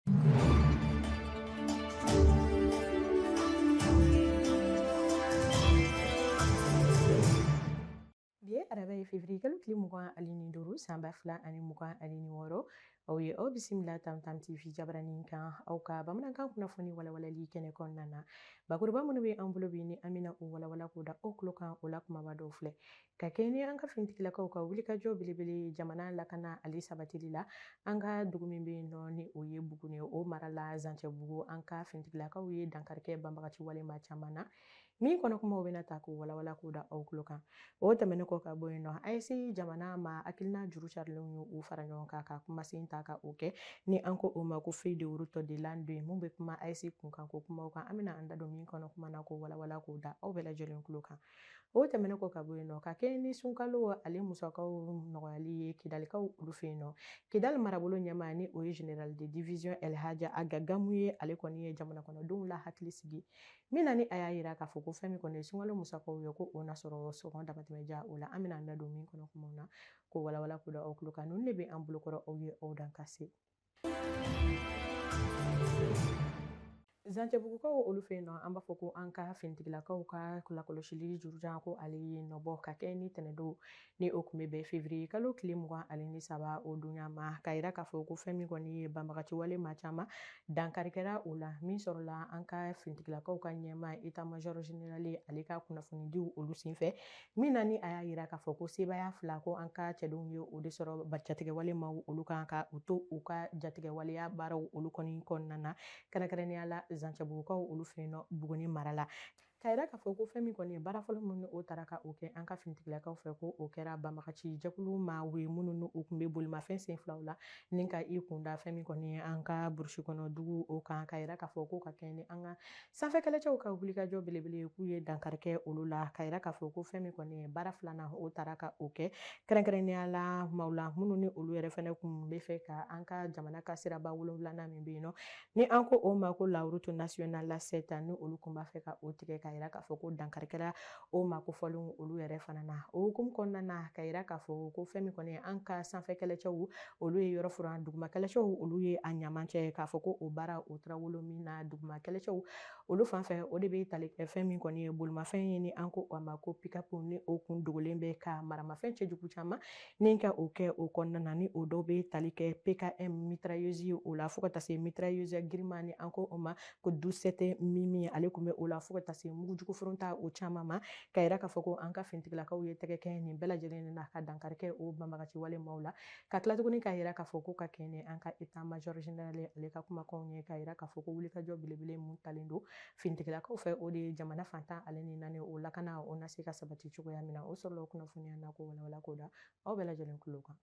Bi ye araba ye fevriye kalo tile mugan ale ni duuru san ba fila ani mugan ale ni wɔɔrɔ aw ye aw bisimila tam tam tv jabaranin kan aw ka bamanankan kunnafoni walawalali kɛnɛ kɔnɔna na bakuruba minnu bɛ an bolo bi ni an bɛna u walawala k'o da aw tulo kan o la kumaba dɔw filɛ ka kɛɲɛ ni an ka finitigilakaw ka wulikajɔ belebele ye jamana lakana ale sabatili la an ka dugu min bɛ yen nɔ ni o ye buguni ye o mara la zancɛbugu an ka finitigilakaw ye dankarikɛ banbagaci wale maa caman na min kɔnɔ kumaw bɛna ta k'o walawala k'o da aw tulo kan o tɛmɛnen kɔ ka bɔ yen nɔ AES jamana maa hakilina juru carilenw ye u fara ɲɔgɔn kan ka kumasen ta ka o kɛ ni an ko o ma ko feuille de route de l'an deux ye min bɛ kuma AES kunkan ko kumaw kan an bɛna an da don min kɔnɔ kuma na k'o walawala k'o da aw bɛɛ lajɛlen tulo kan o tɛmɛnen kɔ ka bɔ yen nɔ ka kɛ ni sunkalo ale musakaw nɔgɔyali ye kidalikaw olu fɛ yen nɔ kidali marabolo ɲɛmaa ni o ye général de division elhaji ag gamu ye ale kɔni ye jamana kɔnɔdenw la hakili sigi min na ni a y'a yira k'a fɔ ko fɛn min kɔni ye sunkalo musakaw ye ko o na sɔrɔ sɔngɔ damatɛmɛja o la an bɛna an da don min kɔnɔ kumaw na k'o walawala k'o da aw tulo kan ninnu de bɛ an bolokɔrɔ aw ye aw dan ka se zancɛbugukaw olu fɛ yen nɔ an b'a fɔ ko an ka finitigilakaw ka lakɔlɔsili jurujan ko ale ye nɔbɔ ka kɛ ni tɛnɛdon ni o tun bɛ bɛn fevriye kalo tile mugan ale ni saba o dunya ma k'a yira k'a fɔ ko fɛn min kɔni ye banbagaciwale maa caman dankarikɛra o la min sɔrɔla an ka finitigilakaw ka ɲɛmaa état major général ale ka kunnafonidiw olu senfɛ min na ni a y'a yira k'a fɔ ko sebaaya fila ko an ka cɛdenw ye o de sɔrɔ jatigɛwale maaw olu kan ka u to u ka jatigɛwaleya baaraw olu kɔni kɔnɔna na kɛrɛnkɛrɛnnenya la zancɛbugukaw olu fɛ yen nɔ buguni mara la k'a yira k'a fɔ ko fɛn min kɔni ye baara fɔlɔ minnu o taara ka o kɛ an ka finitigilakaw fɛ ko o kɛra banbagaci jɛkulu maaw ye minnu n'u tun bɛ bolimafɛn sen filaw la ni ka i kunda fɛn min kɔni ye an ka burusi kɔnɔ dugu o kan k'a yira k'a fɔ ko ka kɛɲɛ ni an ka sanfɛkɛlɛcɛw ka wulikajɔ belebele ye k'u ye dankarikɛ olu la ka yira k'a fɔ ko fɛn min kɔni ye baara filanan o taara ka o kɛ kɛrɛnkɛrɛnnenya la maaw la minnu ni olu yɛrɛ fana kun b'a fɛ ka an ka jamana ka siraba wolonwulanan min bɛ yen nɔ ni an ko o ma ko la route nationale la sept ni olu kun b'a fɛ ka o tigɛ ka yira k'a fɔ ko dankarikɛra o maa kofɔlen olu yɛrɛ fana na o hukumu kɔnɔna na ka yira k'a fɔ ko fɛn min kɔni an ka sanfɛ kɛlɛcɛw olu ye yɔrɔ furan duguma kɛlɛcɛw olu ye a ɲaman cɛ k'a fɔ ko o baara o taara wolo min na duguma kɛlɛcɛw olu fan fɛ o de bɛ tali kɛ fɛn min kɔni ye bolimafɛn ye ni an ko a ma ko pikapu ni o kun dogolen bɛ ka maramafɛn cɛjugu caman ni ka o kɛ o kɔnɔna na ni o dɔw bɛ tali kɛ pkm mitrailleuses o la fo ka taa se mitrailleuse girinman ni an ko o ma ko dusɛtɛ mimi ale tun bɛ o la fo ka taa se mugujuguforon ta o caman ma k'a yira k'a fɔ ko an ka finitigilakaw ye tɛgɛ kɛ nin bɛɛ lajɛlen na ka dankarikɛ o banbagaci wale maaw la ka tila tuguni k'a yira k'a fɔ ko ka kɛɲɛ ni an ka eta majɔri generale ale ka kumakanw ye k'a yira k'a fɔ ko wulikajɔ belebele mun talen don finitigilakaw fɛ o de ye jamana fan tan ale ni naani o lakana o na se ka sabati cogoya min na o sɔrɔla o kunnafoniya na k'o walawala k'o da aw bɛɛ lajɛlen tulo kan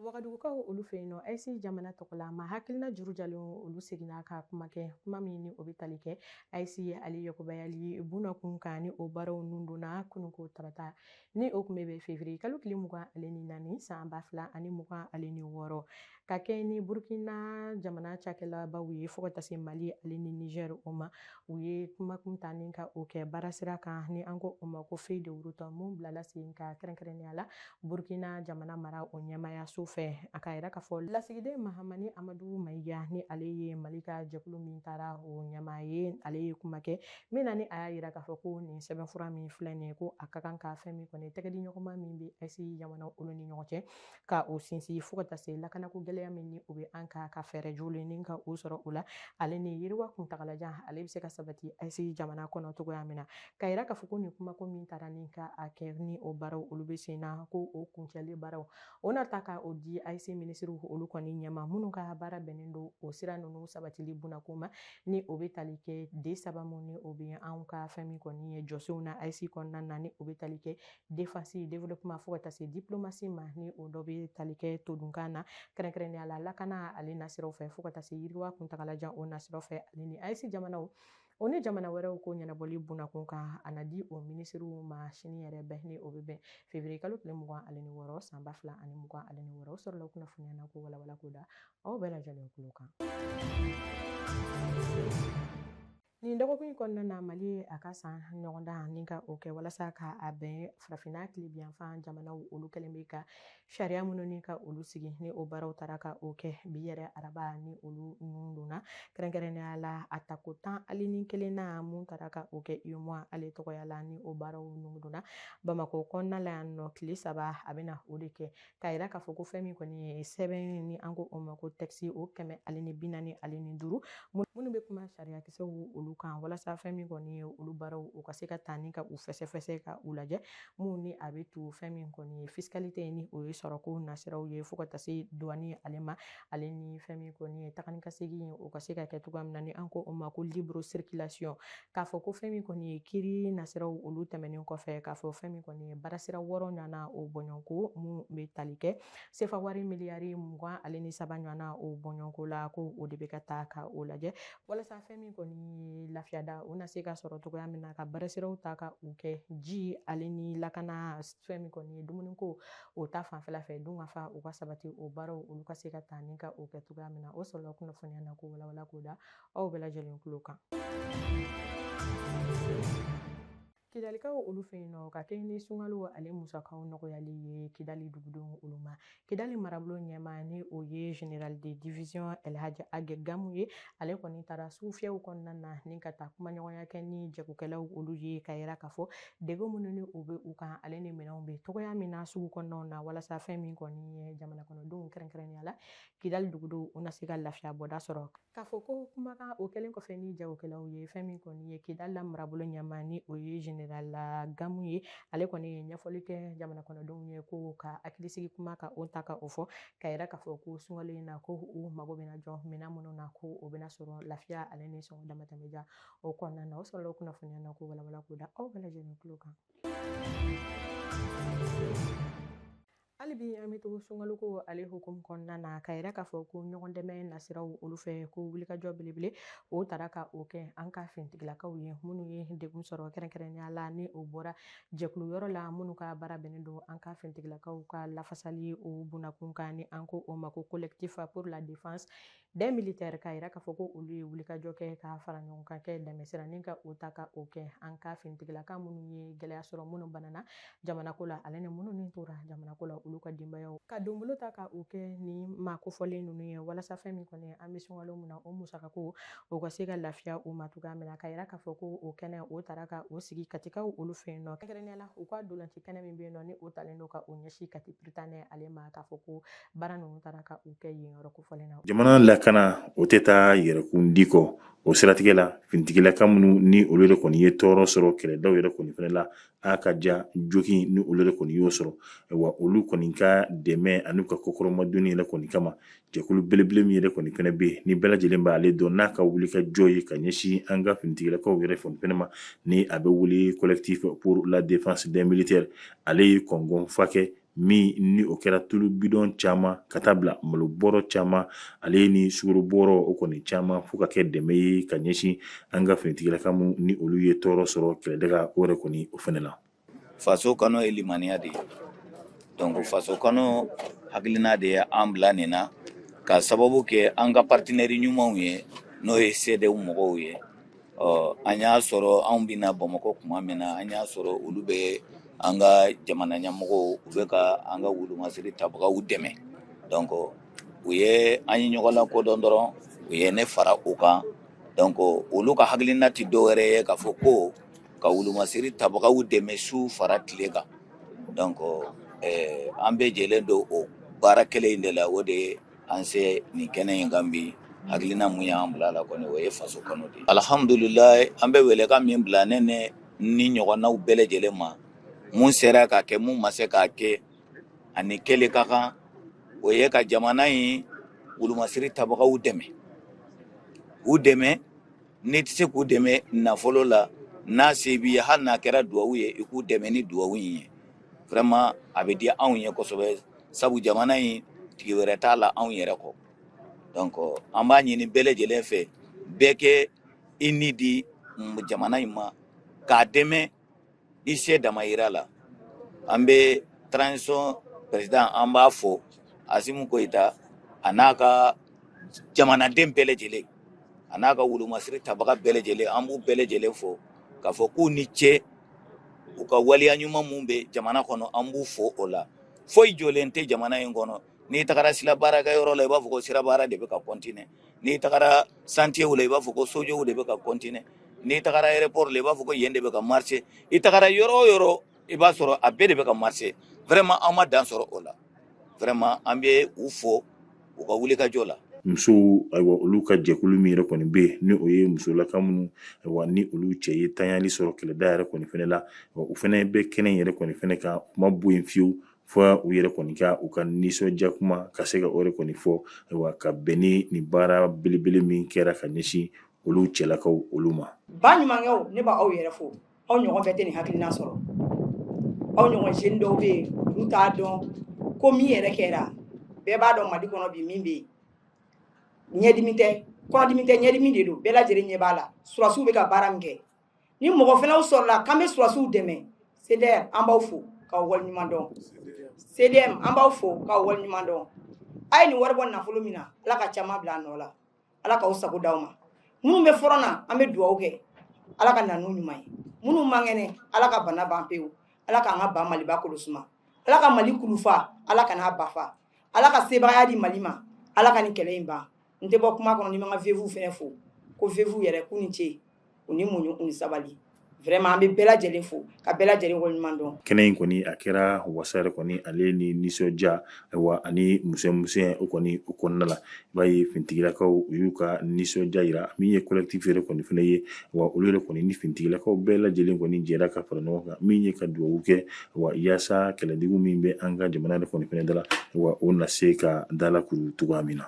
Wagadugukaw olu fɛ yen nɔ, AES jamana tɔgɔla maa hakilina juru jalen olu seginna ka kuma kɛ, kuma min ni o bɛ tali kɛ AES ale yakubayali bunakun kan ni o baaraw nun donna kununko tarata ni o tun bɛ bɛn fevrier kalo tile mugan ale ni naani san ba fila ani mugan ale ni wɔɔrɔ ka kɛ ni Burkina jamana cakɛlabaw ye fo ka taa se Mali ale ni Niger o ma u ye kumakun ta ni ka o kɛ baarasira kan ni an ko o ma ko feuille de route mun bilala sen kan kɛrɛnkɛrɛnnenya la Burkina jamana mara o ɲɛmaayaso fɛ a k'a yira k'a fɔ lasigiden mahamani amadu mayiga ni ale ye mali ka jɛkulu min taara o ɲɛmaa ye ale ye kuma kɛ min na ni a y'a yira k'a fɔ ko nin sɛbɛnfura min filɛ nin ye ko a ka kan ka fɛn min kɔni tɛgɛdiɲɔgɔnma min bɛ AES jamana olu ni ɲɔgɔn cɛ ka o sinsin fo ka taa se lakanako gɛlɛya min ni o bɛ an kan ka fɛɛrɛ jɔlen ni ka o sɔrɔ o la ale ni yiriwa kuntagalajan ale bɛ se ka sabati AES jamana kɔnɔ cogoya min na k'a yira k'a fɔ ko nin kumako min taara ni ka a kɛ ni o baaraw olu bɛ sen na ko o kuncɛlen baaraw o na ta ka o di AES minisiriw olu kɔni ɲɛma minnu ka baara bɛnnen don o sira ninnu sabatili bunako ma ni o bɛ tali kɛ D saba mun ni o bɛ anw ka fɛn min kɔni ye jɔsenw na AES kɔnɔna na ni o bɛ tali kɛ défense développement fo ka taa se diplomasi ma ni o dɔ bɛ tali kɛ todunkan na kɛrɛnkɛrɛnnenya la lakana ale nasiraw fɛ fo ka taa se yiriwa kuntagalajan o nasiraw fɛ ale ni AES jamanaw o ni jamana wɛrɛw ko ɲɛnabɔli bunakun kan a na di o minisiriw ma sini yɛrɛ bɛɛ ni o bɛ bɛn fevriye kalo tile mugan ani ni wɔɔrɔ san ba fila ani mugan ani ni wɔɔrɔ o sɔrɔla kunnafoniya na k'o walawala k'o da aw bɛɛ lajɛlen tulo kan nin dɔgɔkun in kɔnɔna na mali ye a ka san ɲɔgɔndan ni ka o kɛ walasa ka a bɛn farafinna tilebinyanfan jamanaw olu kɛlen bɛ ka sariya minnu ni ka olu sigi ni o baaraw taara ka o kɛ bi yɛrɛ araba ni olu ninnu donna kɛrɛnkɛrɛnnenya la a tako tan ali ni kelennan mun taara ka o kɛ UEMOA ale tɔgɔya la ni o baaraw ninnu donna bamakɔ kɔnɔna la yan nɔ tile saba a bɛna o de kɛ k'a yira k'a fɔ ko fɛn min kɔni ye sɛbɛn ni an ko o ma ko tɛkisi o kɛmɛ ali ni bi naani ali ni duuru minnu bɛ kuma sariyakisɛw olu kan walasa fɛn min kɔni ye olu baaraw u ka se ka taa ni ka u fɛsɛfɛsɛ ka u lajɛ minnu ni a bɛ to fɛn min kɔni ye fiscalité ni o ye sɔrɔko nasiraw ye fo ka taa se douane ale ma ale ni fɛn min kɔni ye taga ni ka segin o ka se ka kɛ cogoya min na ni an ko o ma ko libre circulation k'a fɔ ko fɛn min kɔni ye kiri nasiraw olu tɛmɛnen kɔfɛ k'a fɔ fɛn min kɔni ye baarasira wɔɔrɔ ɲɔgɔnna o bɔɲɔgɔnko minnu bɛ tali kɛ sefa wari miliyari mugan ale ni saba ɲɔgɔnna o bɔɲɔgɔnko la ko o de bɛ ka taa ka o lajɛ walasa fɛn min kɔni ye lafiyada o na se ka sɔrɔ cogoya min na ka baarasiraw ta ka u kɛ ji ale ni lakana fɛn min kɔni ye dumuniko o ta fanfɛla fɛ dunkafa u ka sabati o baaraw olu ka se ka taa ni ka o kɛ cogoya min na o sɔrɔla kunnafoniya na ko walawala k'o da aw bɛɛ lajɛlen tulo kan Kidalikaw olu fɛ yen nɔ ka kɛɲɛ ni sunkalo ale musakaw nɔgɔyali ye Kidali dugudenw olu ma. Kidali marabolo ɲɛmaa ni o ye Général de division Elhaji Age Gamu ye, ale kɔni taara sugufiyɛw kɔnɔna na ni ka taa kumaɲɔgɔnya kɛ ni jagokɛlaw olu ye k'a yira k'a fɔ degun minnu ni o bɛ u kan ale ni minɛnw bɛ cogoya min na sugu kɔnɔnaw na walasa fɛn min kɔni ye jamanakɔnɔdenw kɛrɛnkɛrɛnnenya la Kidali dugudenw u na se ka lafiya bɔda sɔrɔ. K'a fɔ ko kumakan o kɛlen kɔfɛ ni jagokɛlaw ye fɛn min kɔni ye Kidali la marabolo ɲɛmaa ni o ye Général Gamu ye ale kɔni ye ɲɛfɔli kɛ jamana kɔnɔdenw ye ko ka hakilisigi kuma ka o ta ka o fɔ k'a yira k'a fɔ ko sunkalo in na ko u mago bɛna jɔ minɛn minnu na ko o bɛna sɔrɔ lafiya ale ni sɔngɔ damatɛmɛja o kɔnɔna na o sɔrɔla kunnafoniya na ko walawala k'o da aw bɛɛ lajɛlen tulo kan Hali bi an bɛ to sunkaloko ale hukumu kɔnɔna na k'a yira k'a fɔ ko ɲɔgɔn dɛmɛ nasiraw olu fɛ ko wulikajɔ belebele o tara ka o kɛ an ka fintigilakaw ye minnu ye degun sɔrɔ kɛrɛnkɛrɛnnenya la ni o bɔra jɛkulu yɔrɔ la minnu ka baara bɛnnen don an ka fintigilakaw ka lafasali o bunakun kan ni an ko o ma ko collectif pour la défense des militaires k'a yira k'a fɔ ko olu ye wulikajɔ kɛ ka fara ɲɔgɔn kan ka dɛmɛsira nin ka o ta ka o kɛ an ka fintigilaka minnu ye gɛlɛya sɔrɔ minnu banana jamanako la ale ni minnu ni tora jamanako la olu ka denbayaw ka donbolo ta ka o kɛ ni maa kofɔlen ninnu ye walasa fɛn min kɔni an bɛ sunkalo min na o musakako o ka se ka lafiya u ma cogoya min na k'a yira k'a fɔ ko o kɛnɛ o tara ka o sigi Katikaw olu fɛ yen nɔ kɛrɛnkɛrɛnnenya la u ka ntolaci kɛnɛ min bɛ yen nɔ ni o talen don ka o ɲɛsin Kati Prytanée ale ma k'a fɔ ko jamana lakana o tɛ taa yɛrɛkun di kɔ o siratigɛ la fintigilaka minnu ni olu de kɔni ye tɔɔrɔ sɔrɔ kɛlɛda yɛrɛ kɔni fana la a ka ca joginni olu de kɔni y'o sɔrɔ wa olu kɔni ka dɛmɛ ani ka kɔkɔrɔmadon yɛrɛ kɔni kama jɛkulu belebele min yɛrɛ kɔni fana bɛ yen ni bɛɛ lajɛlen b'ale dɔn n'a ka wulikajɔ ye ka ɲɛsin an ka fintigilakaw yɛrɛ fana ma ni a bɛ wele collectif pour la défense des militaires ale ye kɔnɔnfa kɛ min ni o kɛra tulu bidɔn caman ka taa bila malo bɔrɔ caman ale ye ni sukaro bɔrɔ o kɔni caman fo ka kɛ dɛmɛ ye ka ɲɛsin an ka finitigilaka min ni olu ye tɔɔrɔ sɔrɔ kɛlɛdaga o yɛrɛ kɔni o fana na faso kanu ye limaniya de ye donc faso kanu hakilina de ye an bila nin na ka sababu kɛ an ka partenaire ɲumanw ye n'o ye CDM mɔgɔw ye ɔ an y'a sɔrɔ anw bɛna bamakɔ kuma min na an y'a sɔrɔ olu bɛ an ka jamana ɲɛmɔgɔw u bɛ ka an ka wulumasiri tabagaw dɛmɛ donc u ye an ye ɲɔgɔn lakodɔn dɔrɔn u ye ne fara u kan donc olu ka hakilina tɛ dɔwɛrɛ ye k'a fɔ ko ka wulumasiri tabagaw dɛmɛ su fara tile kan donc eh, an bɛ jɛlen don o baara kelen in de la o de ye An se nin kɛnɛ in kan bi hakilina mun y'an bila la kɔni o ye faso kanu de alihamidulilayi an bɛ welekan min bila ne ne ni ɲɔgɔnnaw bɛɛ lajɛlen ma mun sera k'a kɛ mun ma se k'a kɛ a ni kɛlen ka kan o ye ka jamana in wolomasiri tabagaw dɛmɛ u dɛmɛ N'i tɛ se k'u dɛmɛ nafolo la n'a se b'i ye hali n'a kɛra dugawu ye i k'u dɛmɛ ni dugawu in ye vraiment a bɛ diya anw ye kosɛbɛ sabu jamana in tigi wɛrɛ t'a la anw yɛrɛ kɔ donc an b'a ɲini bɛɛ lajɛlen fɛ bɛɛ ka i ni di jamana in ma k'a dɛmɛ I se dama yira la an bɛ transition président an b'a fo Asimi Goyita a n'a ka jamanaden bɛɛ lajɛlen a n'a ka wulumasiri tabaga bɛɛ lajɛlen an b'u bɛɛ lajɛlen fo k'a fɔ k'u ni ce u ka waleya ɲuman minnu bɛ jamana kɔnɔ an b'u fo o la foyi jɔlen tɛ jamana in kɔnɔ n'i tagara sira baarakɛ yɔrɔ la i b'a fɔ ko sira baara de bɛ ka continuer n'i tagara chantierw la i b'a fɔ ko sojɔw de bɛ ka continuer n'i tagara aéroport la i b'a fɔ ko yen de bɛ ka marcher i tagara yɔrɔ o yɔrɔ i b'a sɔrɔ a bɛɛ de bɛ ka marcher vraiment an ma dan sɔrɔ o la vraiment an bɛ u fo u ka wulikajɔ la musow ayiwa olu ka jɛkulu min yɛrɛ kɔni bɛ yen ni o ye musolaka minnu ayiwa ni olu cɛ ye tanyali sɔrɔ kɛlɛda yɛrɛ kɔni fana la u fana bɛ kɛnɛ yɛrɛ kɔni fana kan u ma bɔ yen fiyewu fo u yɛrɛ kɔni ka u ka nisɔndiya kuma ka se ka o yɛrɛ kɔni fɔ ayiwa ka bɛn ni nin baara belebele min kɛra ka ɲɛsin olu cɛlakaw olu ma ba ɲumankɛw ne b'aw yɛrɛ fo aw ɲɔgɔn bɛɛ tɛ nin hakilina sɔrɔ aw ɲɔgɔn jeune dɔw bɛ yen olu t'a dɔn ko min yɛrɛ kɛra bɛɛ b'a dɔn mali kɔnɔ bi min bɛ yen ɲɛdimi tɛ kɔnɔdimi tɛ ɲɛdimi de don bɛɛ lajɛlen ɲɛ b'a la surasiw bɛ ka baara min kɛ ni mɔgɔ fana sɔrɔla k'an bɛ sɔrɔdasiw dɛmɛ cdr an b'aw fo k'aw wale ɲuman dɔn cdm an b'aw fo k'aw wale ɲuman dɔn a ye nin wari bɔ nafolo min na ala ka caman bila a nɔ la ala k'aw sago d'aw ma minnu bɛ front na an bɛ dugawu kɛ ala ka na n'u ɲuman ye minnu man kɛnɛ ala ka bana ban pewu ala k'an ka ba maliba kolo suma ala ka mali kulun fa ala kana a ba fa ala ka sebagaya di mali ma ala ka nin kɛlɛ in ban n tɛ bɔ kuma kɔnɔ ni n ma n ka veuve fana fo ko veuve yɛrɛ k'u ni ce u ni muɲu u ni sabali vraiment an bɛ bɛɛ lajɛlen fo ka bɛɛ lajɛlen waleɲuman dɔn kɛnɛ in kɔni a kɛra wasa yɛrɛ kɔni ale ni nisɔndiya ayiwa ani musɛmusɛn o kɔni o kɔnɔna la i b'a ye fintigilakaw u y'u ka nisɔndiya yira min ye collectif yɛrɛ kɔni fana ye wa olu yɛrɛ kɔni ni fintigilakaw bɛɛ lajɛlen kɔni jɛra ka fara ɲɔgɔn kan min ye ka dugawu kɛ wa yaasa kɛlɛjugu min bɛ an ka jamana yɛrɛ kɔni fana da la wa o na se ka dalakuru cogoya min na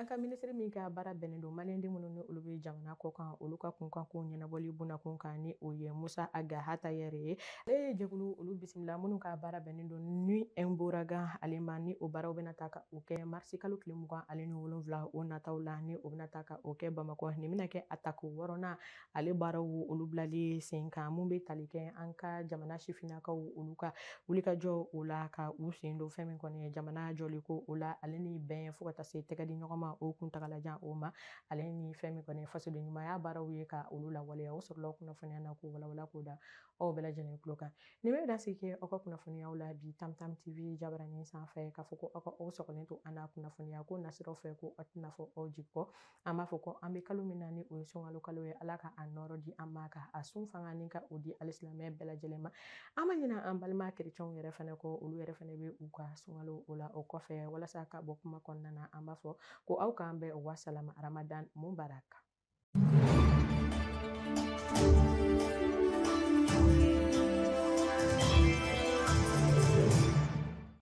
an ka minisiri min ka baara bɛnnen don maliyɛnden minnu ni olu bɛ jamana kɔ kan olu ka kunkan ko ɲɛnabɔli bunakun kan ni o ye musa ag attaher ye ale ye jɛkulu olu bisimila minnu ka baara bɛnnen don ni ɛnboragan ale ma ni o baaraw bɛna taa ka o kɛ marisi kalo tile mugan ale ni wolonwula o nataw la ni o bɛna taa ka o kɛ bamakɔ nin bɛna kɛ a tako wɔɔrɔnan ale baaraw olu bilali sen kan mun bɛ tali kɛ an ka jamana sifinnakaw olu ka wulikajɔ o la ka u sen don fɛn min kɔni ye jamana jɔli ko o la ale ni bɛn fo ka taa se tɛgɛ di ɲɔgɔn ma o kuntagalajan o ma ale ni fɛn min kɔni fasoden ɲumanya baaraw ye ka olu lawaleya o sɔrɔla kunnafoniya na k'o walawala k'o da aw bɛɛ lajɛlen tulo kan nin bɛ dansigi kɛ aw ka kunnafoniyaw la bi tam tam tv jabaranin sanfɛ k'a fɔ ko aw ka aw sɔgɔlen to an na kunnafoniya ko nasiraw fɛ ko aw tɛna fɔ aw jigi kɔ an b'a fɔ ko an bɛ kalo min na ni o ye sunkalo kalo ye ala ka a nɔɔrɔ di an ma ka a sun fanga nin ka o di alisilamɛ bɛɛ lajɛlen ma an ma ɲina an balima kerecɛnw yɛrɛ fana kɔ olu yɛrɛ fana bɛ u ka sunkalo o la o kɔfɛ walasa ka bɔ kuma kɔnɔna na an b'a fɔ ko aw k'an bɛn wasalama ramadan mubarak